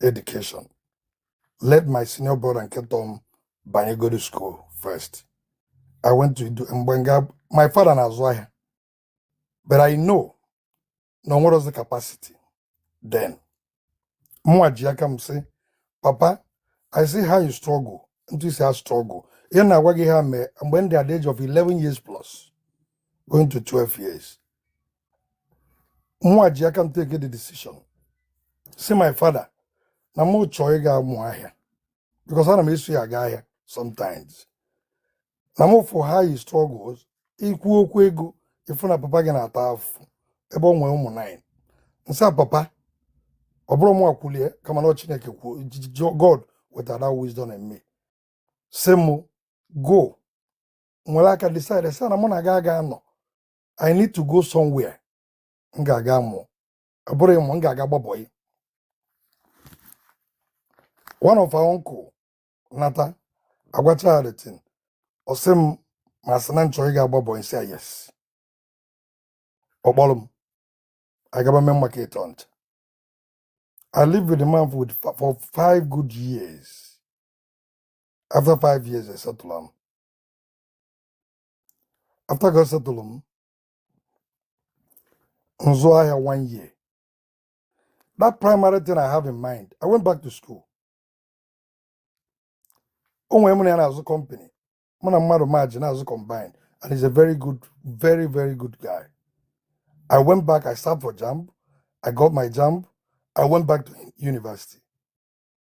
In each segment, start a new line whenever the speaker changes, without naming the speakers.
education let my senior brother nke tọọ m banye go to school first i went to do mgbe nga my father na-azụ ahịa but i know na o nwerọzi capacity then mụnwa ji aka m sị papa i see how you struggle etu i si a struggle ihe m na-agwa gị a mee mgbe m dị at the age of 11 years plus going to 12 years mụnwa ji aka m take the decision si my father na mụ chọọ ịga mụ ahịa because ana m eso ya aga ahịa sometimes na mụ fụ how he struggles ikwu okwu ego ịfụ na papa gị na-ata afụfụ ebe o nwere ụmụ nine m sị ya papa ọ bụrụ mụ akwụlie kama na ọ chineke kwuo J- J- J- god wetara that wisdom in me si mụ go m were aka decide sị na mụ na gị aga anọ i need to go somewhere m ga-aga mụọ ọ bụrụ ịmụ m ga-aga gba bọyị one of our uncle nata agwacha ya the thing ọ sị m ma sị na m chọrọ ịga gba bọyị si ya yes ọ kpọrọ m anyị gaba Main Market Onitsha i lived with the man for, for five good years after five years e settle m after ka ọ setụlụ m m zụọ ahịa one year that primary thing i have in mind i went back to school o nwere onye mụ na ya na-azụ company mụ na mmadụ merge na-azụ combined and he's a very good very very good guy i went back i sat for jamb i got my jamb i went back to university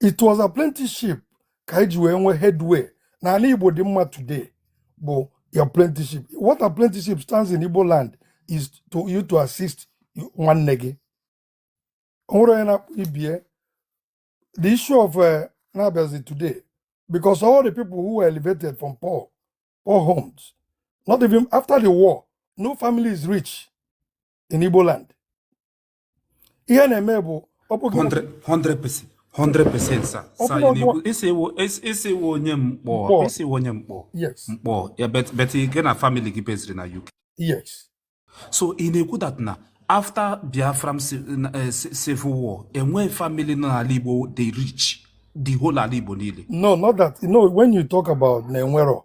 it was apprenticeship ka anyị ji wee nwee headway n'ala Igbo dị mma today bụ apprenticeship what apprenticeship stands in Igbo land is to you to assist nwanne gị o nwere onye na-akpọ ibie the issue of eh, na-abịazi today because all the people who were elevated from poor poor homes not even after the war no family is rich in Igbo land ihe na-eme bụ
ọkpụkpụ 100% 100% sir sir ya na-ekwu isi iwu isi iwu onye mkpọ
isi iwu onye mkpọ yes mkpọ ya but but
gị na family gị beziri na UK yes
so
ị na-ekwu that na after Biafra ci- na- eh, ci- civil war enweghị family nọ n'ala Igbo dị rich the whole ala Igbo niile no not that no
when you talk about na enwero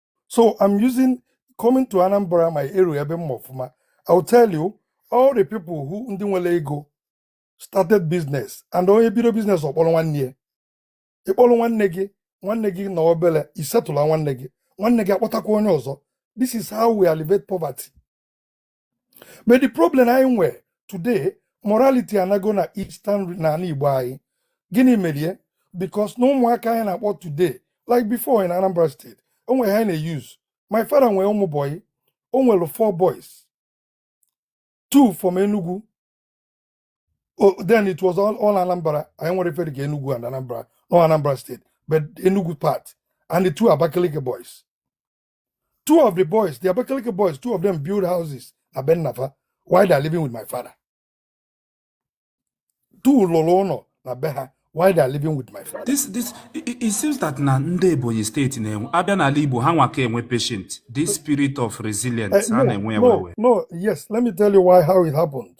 So I'm using coming to Anambra, my area, ebe m ma ọfụma. I'll tell you, all the people who ndị nwere ego started business and onye bido business ọ kpọrọ nwanne ya. Ị kpọrọ nwanne gị, nwanne gị nọọ obere, i settle nwanne gị, nwanne gị akpọtakwa onye ọzọ. This is how we alleviate poverty. but the problem anyị nwe today morality anago na eastern n'ala igbo anyị gịnị merie because na ụmụaka anyị na-akpọ today like before in anambra state o nwere ha na-use my father nwere ụmụ boy o nwere four boys two from enugu Oh, then it was all, all Anambra. I am referring to Enugu and Anambra, no Anambra State, but Enugu part, and the two Abakaliki boys. two of the boys the abakaliki boys two of them build houses na be nna fa while they are living with my father two lụrụ ụnọ na be ha while they are living with my father This this it, it it
seems that na ndị Ebonyi steeti na-enwe a bịa n'ala Igbo ha nwa ka enwe patient this spirit of Eh, resilience ha no na-enwe ya wee no
wee. no yes let me tell you why how it happened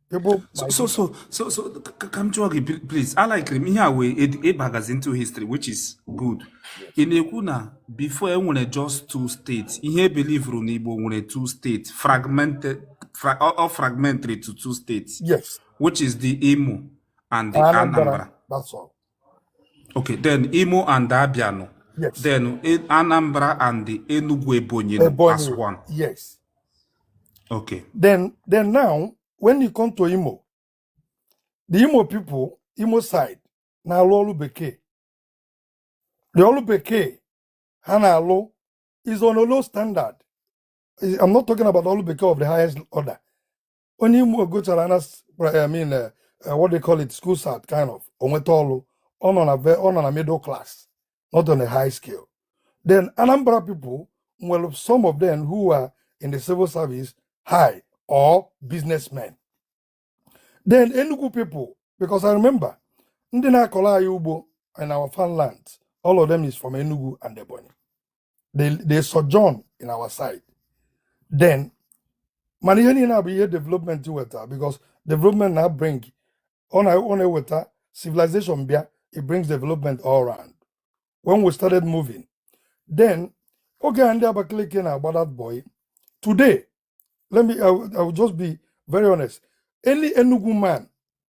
so so so
so so ka m jụọ gị please a likiri m ihe a wee ị bagazi into history which is good ị na-ekwu na before e nwere just two states ihe ị believuru na Igbo nwere two states fragmented fra, or fragmentary to two states yes which is
the Imo
and the Anambra that's all
Okay,
then Imo and Abiano. Yes. Then
eh, Anambra
and the Enugu Ebonyi, Ebonyi as one. Yes. Okay. Then then
now when you come to Imo, the Imo people, Imo side, na alụ ọrụ bekee. The ọrụ bekee ha na-alụ is on a low standard. I'm not talking about ọrụ bekee of the highest order. onye Imo gụchara na s- I mean eh, eh, what they call it school cert kind of o nweta ọlụ ọ nọ na ve ọ nọ na middle class not on a high scale then Anambra people nwere some of them who are in the civil service high or businessmen then Enugu people because I remember ndị na-akọrọ anyị ugbo in our farmland all of them is from Enugu and Ebonyi they, they sojourn in our side then mana ihe niile a bụ ihe development weta because development na bring ọ na ọ na-eweta civilization bịa it brings development all around when we started moving then oge a ndị Abakaliki na-agba that boy today let me I will, I will just be very honest any Enugu man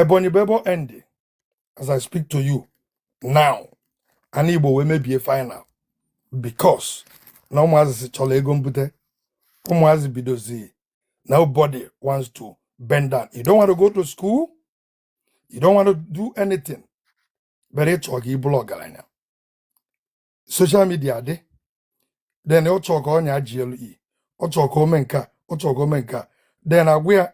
Ebonyi bụ ebe ọ endi as I speak to you now ana Igbo wee mebie final because na ụmụazị si chọrọ ego mbute ụmụazị bidozi nobody wants to bend down you don't want to go to school you don't want to do anything but ị chọ ka ị bụrụ ọgaranya social media dị then ọ chọọ ka ọ nya GLE ọ chọọ ka o me nke a ọ chọọ ka o me nke a then a gwa ya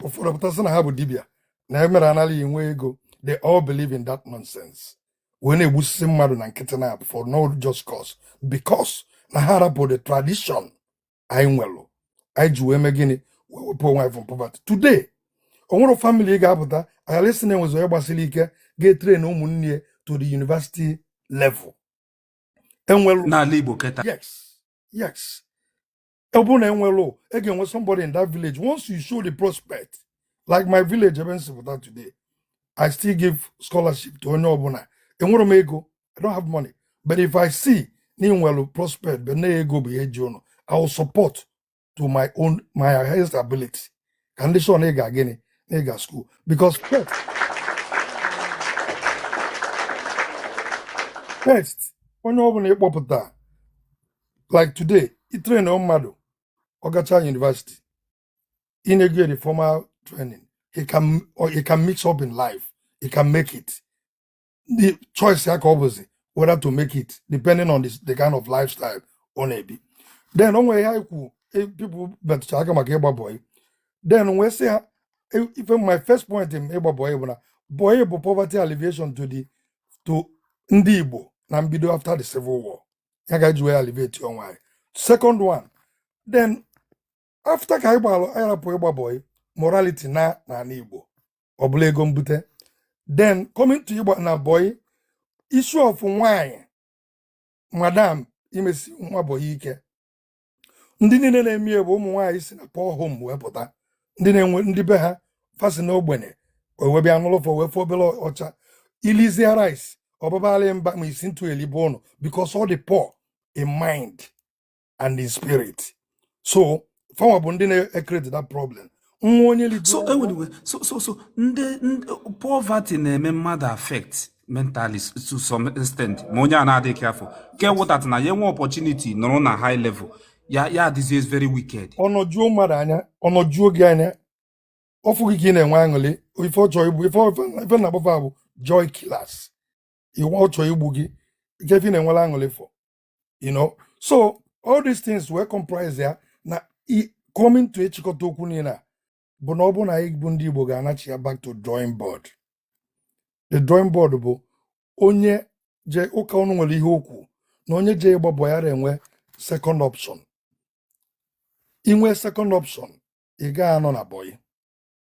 ụfọdụ pụta sị na ha bụ dibịa na emere anaghị enwe ego they all believe in that nonsense wee na-egbusisi mmadụ na nkịtị na for no just cause because na ha rapụ the tradition anyị nwelụ anyị ji wee mee gịnị wee wepụ onwe anyị from poverty today o nwere family ị ga-apụta aghara ịsị na enwezi onye gbasiri ike ga-etrain ụmụnne ya to the university level enwelụ n'ala Igbo kịta yes yes ọ bụrụ na enwelụ e ga-enwe somebody in that village once you show the prospect like my village ebe m si pụta today i still give scholarship to onye ọbụla enwerọ m ego i don't have money but if i see na i nwelu prospect but na ego bụ ihe ji ụnụ i will support to my own my highest ability ka m dị sure na ị ga gịnị na ị ga school because first first onye ọbụla ị kpọpụta like today i train mmadụ ọ gacha university in a good formal training he can or he can mix up in life he can make it the choice ya ka ọ bụzi whether to make it depending on the, the kind of lifestyle ọ na-ebi then o nwere ihe anyị kwu eh, people betụcha aka maka ịgba bọyị then wee sị ha eh, ife my first point n'ịgba bọyị bụ na bọyị bụ poverty alleviation to the to ndị Igbo na mbido after the civil war ya ka eji wee alleviate onwe anyị second one then after ka anyị gbalụ anyị rapụ ịgba bọyị morality naa n'ala igbo ọ bụlụ ego mbute then coming to ịgba na bọyị issue of nwanyị madam imesi nwa bọyị ike ndị niile na-eme ya bụ ụmụ nwaanyị si na poor home wee pụta ndị na-enwe ndị be ha fa si na ogbenye o wee bịa n'ụlọ wee fụ obere ọcha ilizia rice ọ babalị mba ma isi ntụ elibe ụnụ because all the poor in mind and in spirit so fa nwa bụ ndị na-ecreate that problem nwa onye so ligoro enwere iwe so
so so ndị ndị- poverty na-eme mmadụ affect mentally s- to some extent ma onye a na-adịghị careful ị ga-awọta that na ya enwe opportunity nọrọ na high level ya ya adịzie very wicked ọ nọjuo mmadụ
anya ọ nọjuo gị anya ọ fụ gị ka ị na-enwe aṅụrị ife ọ chọọ igbu ife ọ- ife na-akpọ fa bụ joy killers iwe ọ chọọ igbu gị ike ife ị na-enwere aṅụrị for you know so all these things wee comprise ya na i- coming to ịchịkọta okwu niile a bụ na ọ bụ na anyị bụ ndị Igbo ga-anachigha back to drawing board the drawing board bụ onye je ụka ọnụ nwere ihe o kwu na onye je ịgba bọyị ghara inwe second option i nwe second option ị gaghị anọ na bọyị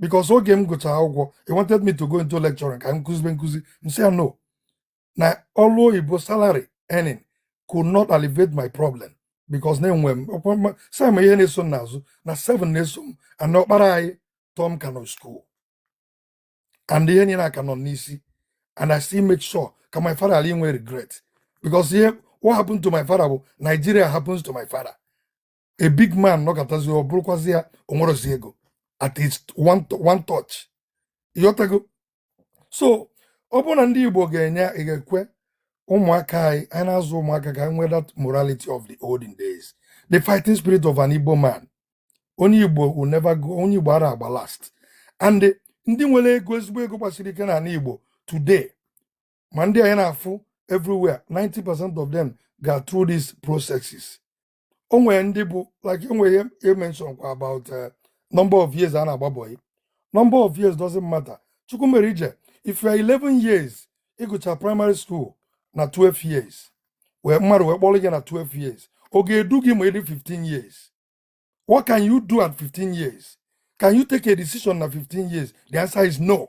because oge m gụchara akwụkwọ he wanted me to go into lecturing ka m kụzibe nkụzi m sị ya no na ọrụ oyibo salary earning could not alleviate my problem because na enwe m ọkwa mma- some ihe na-eso m n'azụ na 7 na-eso m and ọkpara anyị tọọ m ka nọ school and ihe niile a ka nọ n'isi and I still make sure ka my father ghara inwe regret because ihe what happened to my father bụ Nigeria happens to my father a big man nọkatazi ọ bụrụkwazi ya o nwerozi ego at least one, to- one touch ị ghọtago so ọ bụrụ na ndị igbo ga-enye ga-ekwe ụmụaka anyị anyị na-azụ ụmụaka ka ha nwee that morality of the olden days the fighting spirit of an igbo man onye igbo will never go onye igbo ara agba last and ndị nwere ego ezigbo ego gbasiri ike n'ala igbo today ma ndị anyị na-afụ everywhere 90% of them ga through these processes o nwere ndị bụ like o nwere ihe i mention kwa about eh, number of years a na-agba bọyị number of years doesn't matter chukwumerije if you are 11 years ị gụcha primary school na 12 years wee mmadụ wee kpọrọ gị na 12 years ọ ga-edu gị ma ị dị 15 years what can you do at 15 years can you take a decision na 15 years the answer is no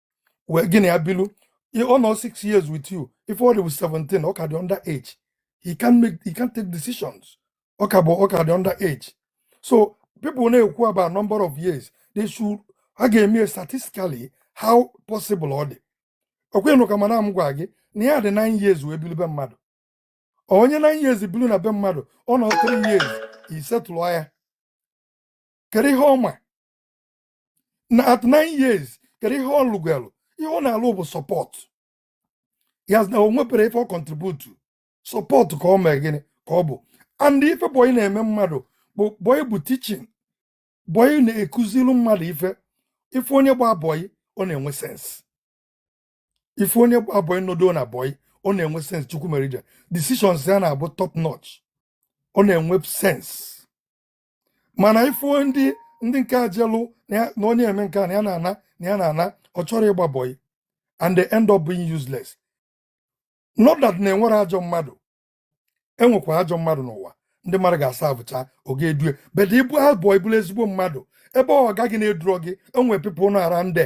wee gị na ya bilu ọ nọ 6 years with you if ọ dị bụ 17 ọ ka dị under age he can't make he can't take decisions ọ ka bụ ọ ka dị under age so people na-ekwu about number of years they should a ga-eme ya statistically how possible ọ dị ọ kwanụ ka mmadụ gwa gị na ya dị 9 years wee bilu be mmadụ onye 9 years bilu na be mmadụ ọ nọ 3 years i settle ya kedu ihe ọ ma na at nine years kedu ihe ọ lụgwelụ ihe ọ na-alụ bụ support he hasn't o nwebero ife ọ contribute support ka ọ mee gịnị ka ọ bụ and ife bọyị na-eme mmadụ bụ bọyị bụ teaching bọyị na-ekuziri mmadụ ife if onye gba bọyị ọ na-enwe sense if onye gba bọyị nọdụ na bọyị ọ na-enwe sense chukwumerije decisions ya na-abụ top notch ọ na-enwe sense mana ị fụ ndị ndị nke a jelụ na onye eme nke a na ya na-ana na ya na-ana ọ chọrọ ịgba bọyị and they end up being useless not that na enwero ajọ mmadụ enwekwa ajọ mmadụ n'ụwa ndị mmadụ ga-aservecha ọga edue but ị gba bọyị bụrụ ezigbo mmadụ ebe ọga gị na-eduro gị enwe people na ara ndị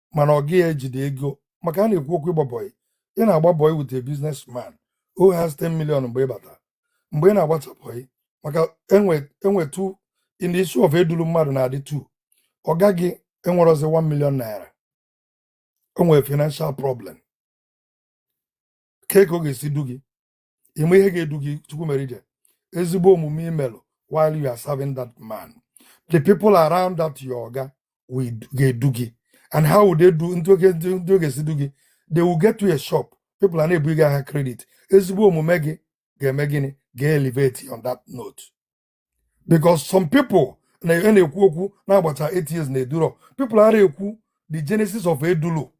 mana ọga gị ejide ego maka a na-ekwu okwu ịgba bọyị ị na-agba bọyị with a business man who has 10 million mgbe ị bata mgbe ị na-agbacha bọyị maka enwe enwe two in the issue of eduru mmadụ na-adị two ọga gị enwerozi 1 million naira o nwere financial problem kee ka ọ ga-esi du gị ị ma ihe ga-edu gị chukwumerije ezigbo omume i melụ while you are serving that man the people around that your oga will ga-edu gị and how would they do ndị ga ndị ga-esi du gị they will get you a shop people a na-ebu gị ahịa credit ezigbo omume gị ga-eme gịnị ga-elevate on that note because some people na e na-ekwu okwu na-agbacha eight years na eduro people ara ekwu the genesis of edulu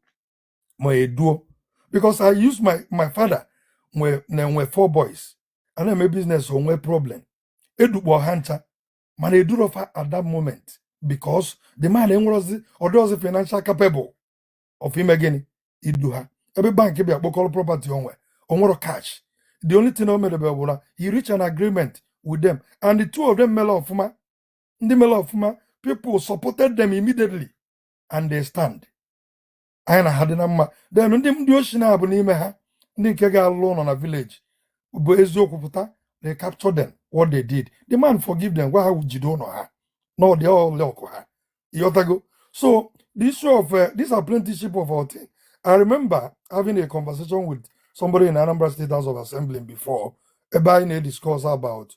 ma eduo because I use my my father nwee na-enwe four boys a na-eme business o nwee problem edukpọ ha ncha mana eduro fa at that moment because the man enwerozi ọ dịrọzi financial capable of ime gịnị idu ha ebe bank bịa kpokọrọ property o nwe o nwero cash the only thing o mere bụ na he reach an agreement with them and the two of them mere ọfụma ndị mere ọfụma people supported them immediately and they stand anyị na ha dị na mma then ndị ndị oshi na-abụ n'ime ha ndị nke ga-alụ ụlọ na village bụ eziokwu pụta they capture them what they did the man forgive them gwa ha jide ụlọ ha na ọ dị ọlị ọkụ ha ịghọtago so the issue of uh, this apprenticeship of a thing i remember having a conversation with somebody in anambra state house of assembly before ebe anyị na-ediscuss about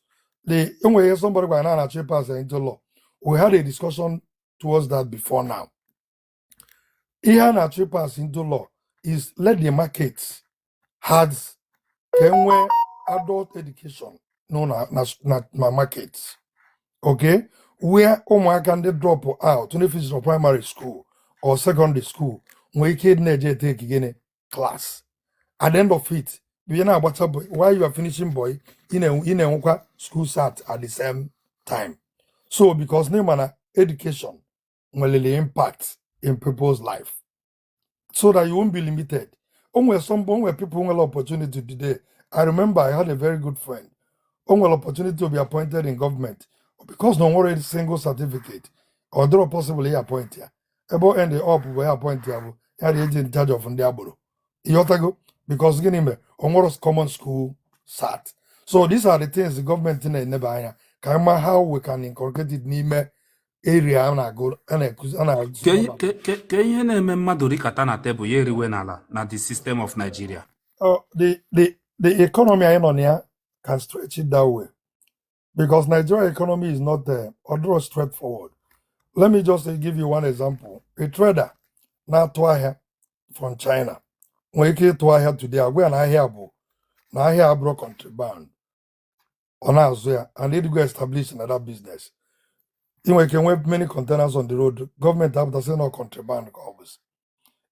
the e nwere ihe somebody gwara na a na-achọ ịpass into law we had a discussion towards that before now ihe a na-achọ ịpass into law is let the market has ka e nwee adult education no na na na, na market okay where ụmụaka ndị drop out ndị finish na primary school or secondary school nwee ike ịdị na-eje etake gịnị class at the end of it ị na-agbacha boy while you are finishing boy ị na-enwe ị na-enwekwa school cert at the same time so because na ị ma na education nwelu impact in people's life so that you won't be limited o nwere some o nwere people nwere opportunity today i remember i had a very good friend o nwere opportunity to be appointed in government because na o nwero a single certificate ọ dịrọ possible ịappoint ya ebe o end up bụ ịappoint ya bụ the agent in charge of ndị agboro ịghọtago because gịnị mere o nwero common school cert so these are the things the government na-eneba anya ka anyị ma how we can incorporate it n'ime area a na-agụ a na-akụzi a na-azụ
Ke ihe n'ụlọ ke- ke- ke ihe na-eme mmadụ rikata na tebụl ya eriwe n'ala na the system of Nigeria. Uh,
the the the economy anyị nọ na ya can stretch it that way because Nigeria economy is not uh, ọ dịrọ straightforward. Let me just uh, give you one example. A trader na-atụ ahịa from China nwere ike ịtụ ahịa today a gwa ya na ahịa bụ na ahịa abụrụ contraband ọ na-azụ ya and ị dịgo establish na that business ị nwere ike nwee many containers on the road gọọmenti apụta sị na contraband ka ọ bụzi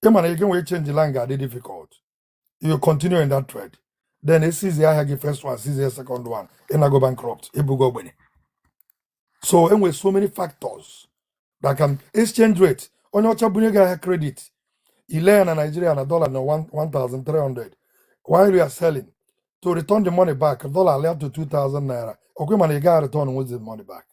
ị ma na ike nwee change line ga-adị difficult you continue in that trade then e seize ahịa gị first one seize second one ị nago bankrupt ị bụgo ogbenye so enwere so many factors that can exchange rate onye ọcha bunye gị ahịa credit ile ya na Nigeria na dollar na 1300 while you are selling to return the money back dollar alịa to 2000 naira ọkwa mana ị gaghị return with the money back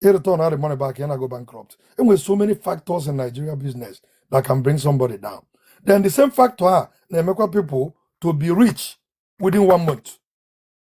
ị return the money back ya na go bankrupt enwere so many factors in Nigeria business that can bring somebody down then the same factor a na-emekwa people to be rich within one month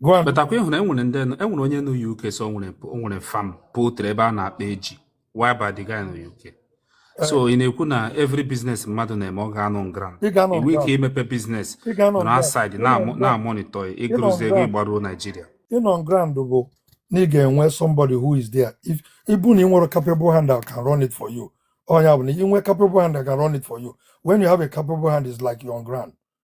gwa m but ọ kwa ịhụrụ enwere ndị
nọ- enwere onye nọ UK so o nwere o nwere farm poultry ebe a na-akpa eji whereby the guy nọ UK so ị na-ekwu na every business mmadụ na-eme ọ ga-anọ on ground ị ga-anọ i nwe ike ground imepe business ị ga-anọ nọrọ ground outside ịnọ na-amụ- ground na-amonitọ ya ịnọ ịgụrụzie ego ground ịgbaruo Naijiria ịnọ
ground bụ na ị ga-enwe somebody who is there if ịbụ na ị nwere capable hand that can run it for you ọ ya bụ na ị nwee capable hand that can run it for you when you have a capable hand is like you're on ground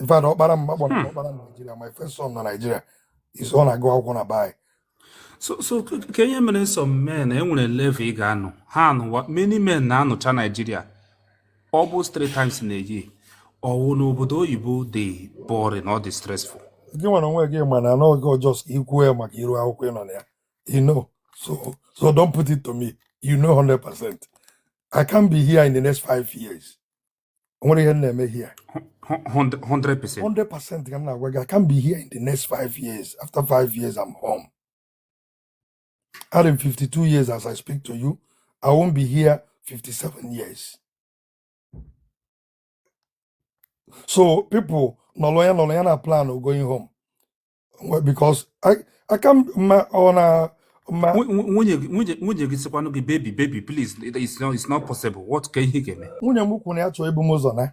in fact ọkpara m akpọrọ m Hmm. ọkpara m Naijiria my first son na Naijiria is ọ na-agụ akwụkwọ na baị so
so k- ka ihe mere some men enwere level ị ga-anọ ha anụwa many men na-anọcha naijiria almost three times in a year ọ wụ na obodo oyibo dị boring ọ dị stressful gịnwa onwe
gị ma na n'oge ọjọọ ka ikwuo ya maka iru akwụkwọ ị nọ na ya you know so so don't put it to me you know 100% I can't be here in the next five years nwere ihe na-eme here 100%. 100% ka m na-agwa gị I can't be here in the next five years after five years I'm home I'm 52 years as I speak to you I won't be here 57 years so people nọrọ ya nọrọ ya na plan of going home Well, because I I come my on a my Nwu- nwu- Nwunye gị nwunye
nwunye gị sịkwanụ gị baby baby please it- it's not, it's not possible what kee ihe ị ga-eme nwunye m kwuru
na ya chọọ ibu m
ụzọ na